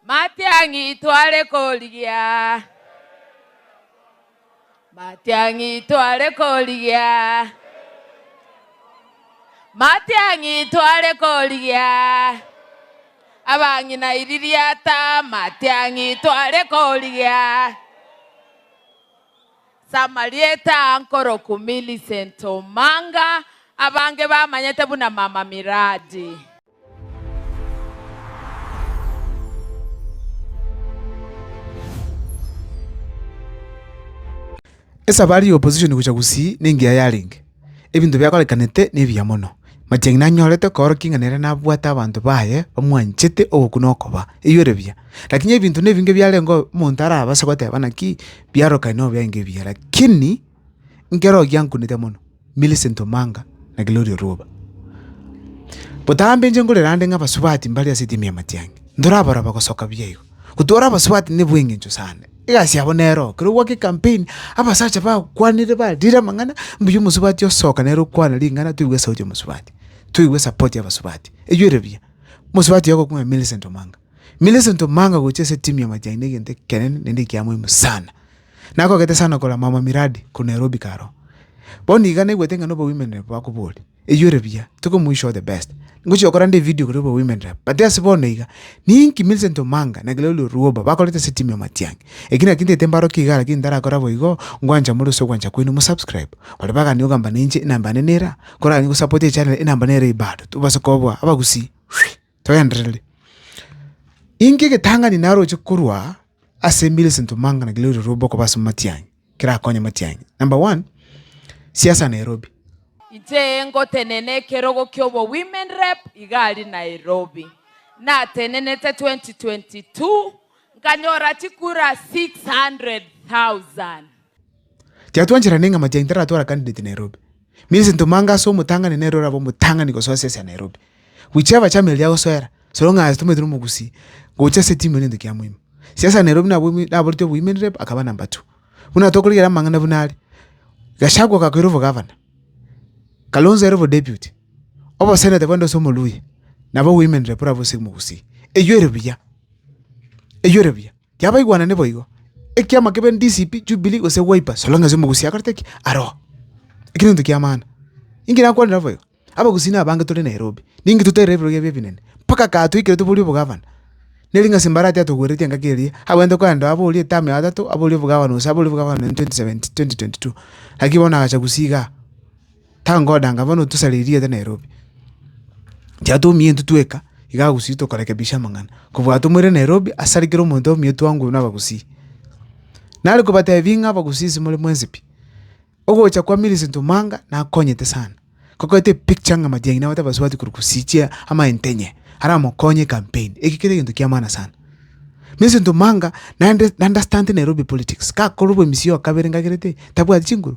Matiang'i tware korigia, matiang'i tware korigia, matiang'i tware korigia, abang'ina iri riata, matiang'i tware korigia, samarieta ankoroku Millicent Omanga, abange bamanyete buna Mama Miradi. Esabari y'Opozishoni gochia gusii nengiya yarenge. Ebinto biakorekanete nebiya mono. Matiang'ina anyorete koorokia ing'ana eria nabwate abanto baye bamwanchete oboku na okoba, eyio ere buya. Lakini ebinto nebinge biarenge omonto arabase goteba naki biarorokane nobiainga ebiya, lakini Nkere oyio ankunete mono, Millicent Omanga na Gloria Orwoba. Botambe inche nkorera ande ng'a abasubati mbare ase etimu ya Matiang'i, ntorabora bagosoka buya igo. Gotwara abasubati nebweng'encho sana, egasi yabo nero. Ekero ogwaka ecampaign, abasacha bagokwanire barire amang'ana, mbuya omosubati osoka nere okwana ring'ana toigwe esauti y'omosubati, toigwe esapoti y'abasubati. Eywo ere buya. Omosubati oyo ogokwana Millicent Omanga. Millicent Omanga gocha ase etimu ya Matiang'i na egento ekenene naende ekiamoimo sana. na akogete sana okora mama miradi korwa Nairobi karo. Bono iga naigwete ng'a na obo women rep bakoboria, eyio ere buya, tokomoyi show the best. Ngochia gokora nde evidio korwa obo women rep, but ase bono iga, ninki Millicent Omanga na Gloria Orwobo bakorete ase team ya Matiang'i. Eki naki ntaete mbarokie igaa lakini ntarakora boigo, ngwancha more ase ogwancha kwaino mo subscribe. Baria bagani ogamba nainche enamba yane nera, koragani gosapotia echannel enamba nera eye bado, tobase kobua abagusii. Togenderere. Inki egetang'ani naroche korwa ase Millicent Omanga na Gloria Rwobo okoba ase matiang'i, kerakonye matiang'i? Number one, siasa Nairobi. Inche ngotenena ekerogo kia obo women rep iga aria Nairobi. Natenenete 2022 nkanyora chikura 600,000. Tiatwanchera ning'a amachai ntaratwara candidate Nairobi. Means ntoma anga ase omotang'ani nere orabe omotang'ani gosoa siasa ya Nairobi. Whichever chama eria agosoera, so long as tomaete na omogusii, gocha ase etimu ere nento kia moimo. Siasa ya Nairobi nabo ime naboretie o women rep akaba number two. Buna tokorigera amang'ana buna are, Gachagua ogakoira obogavana, Kalonzo ere obodeputy, obosenator bwende ase omoluya, nabo women rep orabe ase omogusii. Eywo ere buya, eywo ere buya. Kiabaigwanane boigo, ekiama kebe ndisipi Jubili gose Wiper, solong'esi omogusia akorete ki aro? Eki negento ki'amana. Inki nakwanire naboigo? Abagusia nabange tore Nairobi, ninki toterire ebirogo ebio ebinene, mpaka gatwaikerete bori obogavana. Neri ng'a Simbarati atogwereretie engaki eria, agwenerete koenda aa bori etamu ya gatato, aa bori obogavana gose aa bori obogavana in 2022. Naki bono agacha gusii igaa. Tangodanga bono tosare erioda Nairobi. Inche atomie intwe tweka, iga agusii tokorekebisha amang'ana. Kobua atomore Nairobi, ase are kera omonto omonyio twangwe na abagusii. Nare kobatebi ng'a abagusii inse more mwensi pi. Ogocha kwa Millicent Omanga, nakonyete sana. Kokoete epicture ng'a magengi naye atabasubati korwa gusii chia amaente enye, aramokonye ecampaign. Eki kere egento kia maana sana. Millicent Omanga, naende naunderstante Nairobi politics. Kakorwa oboemisi oyo kabere ngakerete, tabwati chinguru.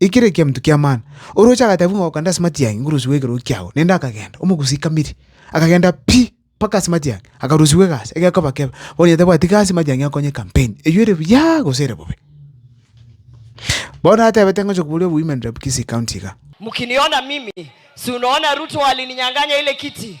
Ekero ekiaminto ki'amana, orooche agateba buna goka 'nde ase matiang'i, ngorusigwe ekerogo kiago, naende akagenda, omogusi kamiri, akagenda pi mpaka ase matiang'i, akarusigwa egasi, egekoba kebe, onye tabwati gasi matiang'i akonye campaign, eywo ere buyaaa gose ere bobe. Bono atebete ngocha koboria wi women rep Kisii county iga. Mkiniona mimi, si unaona Ruto alininyanganya ile kiti.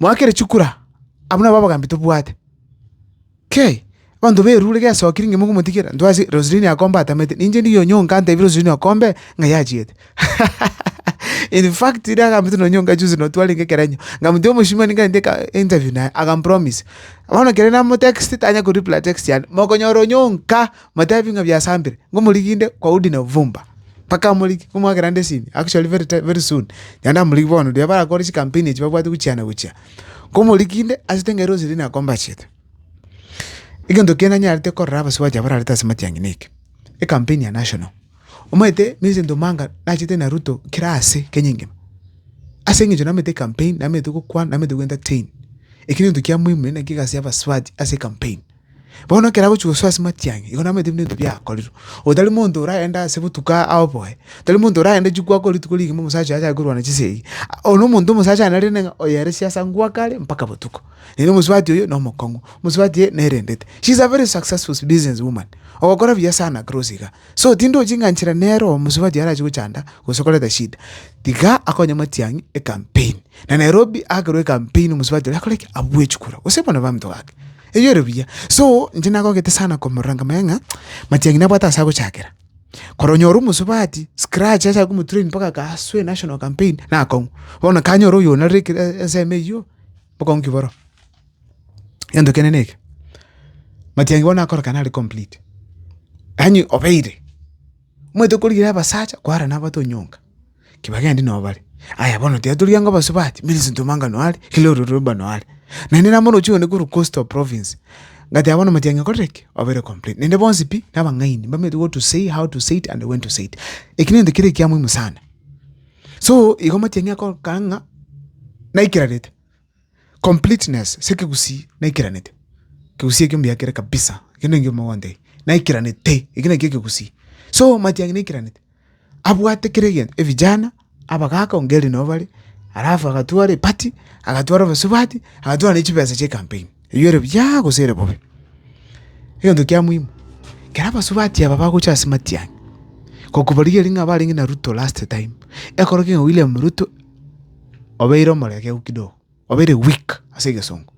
“Moakere chikura! Abwo nabwo abagambi tobwate. Kei! Abanto b'erirube gesokire inwe mogomotigera? Ntwase Roselini akombe atamete, ninche ndigie onye onka ntebie Roselini okombe ng'a yachiete. In fact, ere agambete nonye onka chionsi nonye twarenge ekerenyo, ng'amotia omosimani ngare nde interview naye, akampromise. Bono ekero namotext tanya koreply text yane, mokonyora onye onka. Motebi ng'a biasambire, ngomoriginde kwa udi na obofumba. Mpaka amorigie, ngomwakera ande esimi, actually very ti very soon, naende amorigie bono riria barakore chikampeni echi babwate gochiana gochia. Komoriginde, ase ting'aire gose riria nakomba achiete. Egento kende nanyarete korora abasubachi abwo bararete ase amatiang'ina eke, ekampeni ya national. Omanyete miezi ntomanga nachete na ruto kera ase kenya engima, ase eng'encho namanyete ekampeni, namanyete gokwana, namanyete goentertain. Ekio negento kia muhimu naende nakio egasi ya abasubachi ase ekampeni. Bono ekero agochia gosoa ase matiang'i, igo namaete buna ebinto biakorirwe. Oyo tari monto oragende ase botuko aoboe, tari monto oragende chikwa akore rituko rigima omosacha oye achake korwana chinsa eyio. Oyo na omonto omosacha aye nari rende ng'a oyo ere siasa ngwaka are mpaka botuko. Erio omosubati oyo na omokong'u, omosubati eye nerendete. She is a very successful business woman, ogokora buya sana gross iga. So tindi ochi ng'a nchera nere oyo omosubati oyo arache gochanda gose koreta shida. Tiga akonye matiang'i ecampaign. Na Nairobi akerwa ecampaign omosubati oria akore ki? Abue chikura gose bono baminto gake. Eyore buya. So, inche nagogete sana komorora nkamanya ng'a matiang'i nabwate ase agochakera. Kore onyore omosubati, scratch achake komotrain mpaka agasue national campaign, nakong'u. Bono kanyora oyo onarire ekero ensemo eyio, bokong'u ki boroo? Egento kende neke, matiang'i bono nakorokana are complete, yaani obeire. Omanyete okorigereria abasacha kware nabato nyonga, ki bagendi nabo bare. Aya bono tiga torigia ng'a obosubati, Millicent Omanga noo are, Kelly Oruruba noo are. Naende nabo oroche one korwa Coastal Province, ngatiga bono matiang'e korire ki? Obere complete. Naende bonsi pi, nabang'aini, mbamenyete what to say, how to say it, and when to say it. Eki nento kere ekia mohimu sana. So, igo matiang'e kogokana ng'a naikirarete. Completeness, ase ekegusii naikiranete, ekegusii ekio mbuya kere kabisa, ekio ningio mogontebia, naikiranete, ekio nakio ekegusii. So matiang'i naikiranete, abwate kera egento, evijana, abagaka onga ere nabo bare, alafu agatwara eparty, agatwara obosubati, agatwara na chibesa chia ecampaign, eywo ere buyaaa gose ere bobe. Egento kia muhimu, kera abasubati aba bagocha ase matiang'i, gokoborigereria ng'a abarenge na ruto last time, ekero keg'ana William Ruto. obeire omoregeku kidogo, obeire weak ase egesongo.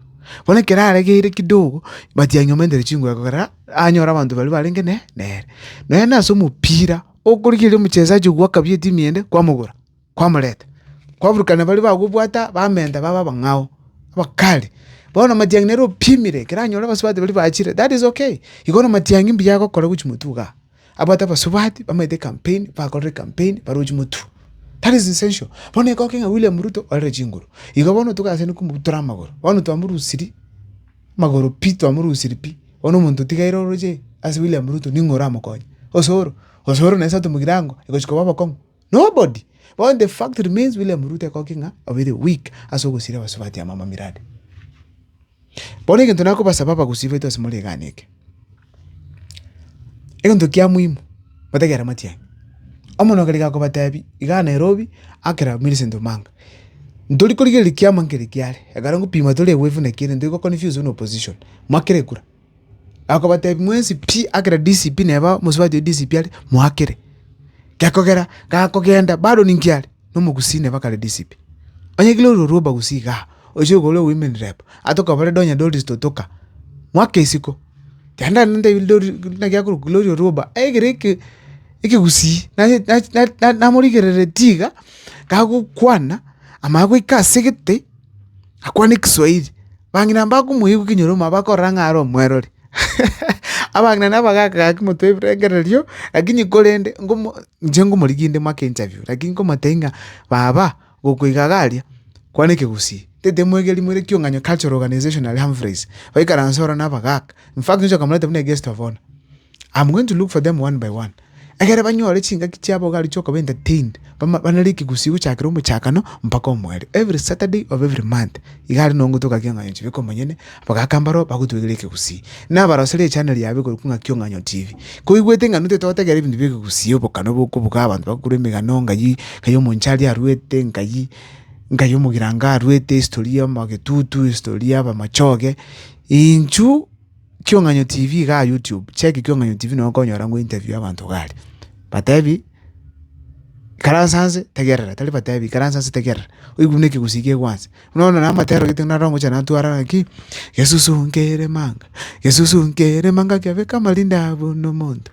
Bono ekero aregeire kidogo, but anyomentere chinguru ekegoera anyore abanto baria barenge ne nere. Nonye na ase omopira, okorigereria omochesaji oywo bwakabia etimu eyende, kwamogora, kwamoreta, kwaburukana baria bagobwata bamenta baba abang'ao, abakali. Bono matiang'i nere opimire ekero anyore abasubati baria bachire, that is okay. Igo na matiang'i mbuya agokora gochia motugo igaa. Abwate abasubati bamaete campaign bakorire campaign barochie motwe. That is essential. Bono ekokia ng'a William Ruto orere chinguru. Igo bono togachene komotutera amagoro. Bono twamorusiri magoro pi twamorusiri pi. Bono omonto otigaire oroche ase William Ruto ning'o oramokonye? Osoro. Osoro nesa tomogire ango egochi koba obokong'u. Nobody but the fact remains William Ruto ekogokigwa ng'a obeire weak ase ogosira abasubati amo amamiradi. Bono egento nakobasaba abagusii baito ase more egana eke, egento kia muhimu motegere amatiang'i, omonwe kare gakobatebi igaa Nairobi akera Millicent Omanga, ntorikorigereria kiama nkere kiare, ekero ngopima tore wave naki ere ntori go confuse buna opposition, mwakere kura. Akobatebia, Mwensi pi akera DCP neba omosubati o DCP are, moakere. Gekogera gakogenda bado ninki are? Nomogusii neba kare DCP. Onye kere ororo rwa obagusii igaa, oise igoro ore women rep, atokobore Donya Doris totoka, mwake isiko. Kenda ntebirie Doris buna giakorokwa Gloria Orwoba, egere eke ekegusii nage na namorigereretie iga, gagokwana, amaya goika asegete. Akwane Kiswahili, bang'ina mbakomoigwa ekenyoromo bakorora ng'a are omwerori. Abang'ina nabo bagaka gaki motwe ebirengererio, lakini korende ngomo inche ngomorigia inde moake interview, lakini nkomotebia ng'a baba gokwa iga iga aria, kwana ekegusii, tete moigeri moire ekiong'anyo cultural organization aria Humphreys, baikaranse ororo nabagaka, in fact nyoche okamoreta buna a guest of honour, am going to look for them one by one. Ekero banyore chingaki chiabo iga aroche koba entertained, banere ekegusii gochakera omochakano mpaka omoerio, every Saturday of every month, iga aria nonye gotoka ki Ong'ayo TV komonyene, abagaka mbaro bagotwegera ekegusii. Nabaroserie echaneri yabo ekorokwa ng'aki Ong'ayo TV. Koigwete ng'a ntoete gotegera ebinto bie kegusii obokana obo okobuga abanto bagokora emegano ng'ai, ng'ai omonche aria arwete, ng'ai ng'ai omogirango arwete, history ya omogetutu, history ya abamachoge, intwe. Kiong'anyo TV iga aa YouTube, check Kiong'anyo TV nabo okonyora ng'o interview ya abanto iga aria. Batebi, ikaransa nse tegerera, tari batebi, ikaransa nse tegerera, oigwe buna ekegusii kiaigwa nse. Buna bono nabo amatero gete naro ngocha natwara ng'aki, Yesusu nkere manga, Yesusu nkere manga, kiabeka amarinde aa buna omonto.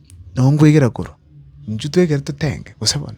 Nonkwegera korwa, inchuo twegere totenge, gose bono?